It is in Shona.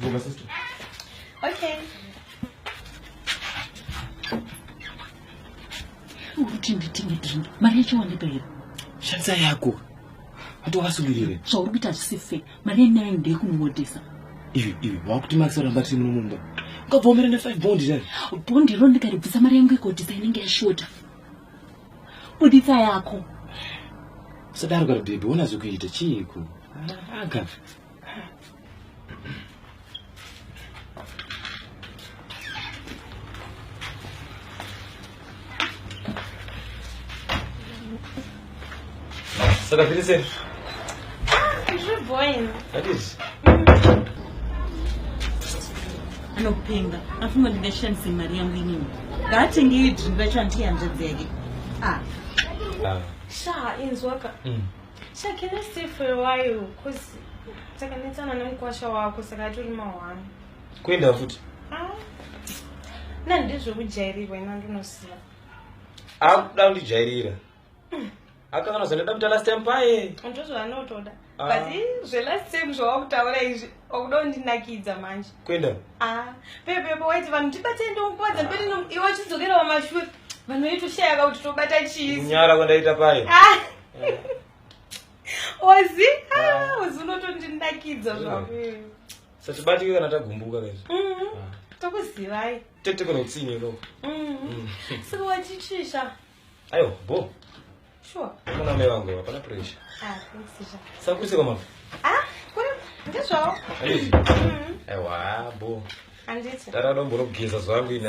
Geza sister. Okay. Kuti nditenge drink. Mari yacho wandipa here? Shandisa yako. Hati wakasungirire. Zvauri kuita hazvisi fair. Mari yenyu nayo ndeyekunomodesa. Ivi ivi wakuti Max aramba tiri muno mumba. Ukabvomera ne 5 bond dai. Bond ro ndikaribvisa mari yangu ikodisa inenge yashota. Buditsa yako. Sadaro kari baby, wona zvikuita chiiko? Aga. Ça t'a fait des ailes Je bois. Allez. anopenga afunga ndingashandise mari yangu inini ngaatenge iyo drinki vacho andiyanzvadzi yake ah. ah. shaa inzwaka mm. Sha, can I stay for a while? Cause takanetsana nemukwasha wako saka atori mahwani. Kuenda futi? Ah. Na ndizvo kujairirwa ina ndinosiya. Akuda kundijairira. Mm. Akakana zvandoda kuita last time paye. Ndozvo anotoda. Ah. But eh, zve last time zvawakutaura izvi okuda kundinakidza manje. Kuenda? Ah. Pepe pepe waiti vanhu tibatei ndomupadza mberi iwe chidzokera wamashure. Vanhu veitoshaya kuti tobata chii. Nyara kwandaita paye. Ah. ozi ah, ozi unotondindakidza mm. zvako satibatike kana tagumbuka kaizvi mm-hmm. ah. tokuzivai tete kana utsinye lo mm-hmm. mm. so wachichisha ayo bo sure kuna mai vangu hapana pressure ah, sakuise kwamava ah, ndizvawo mm-hmm. aiwa bo handiti ndaradombo rokugeza zvangu ini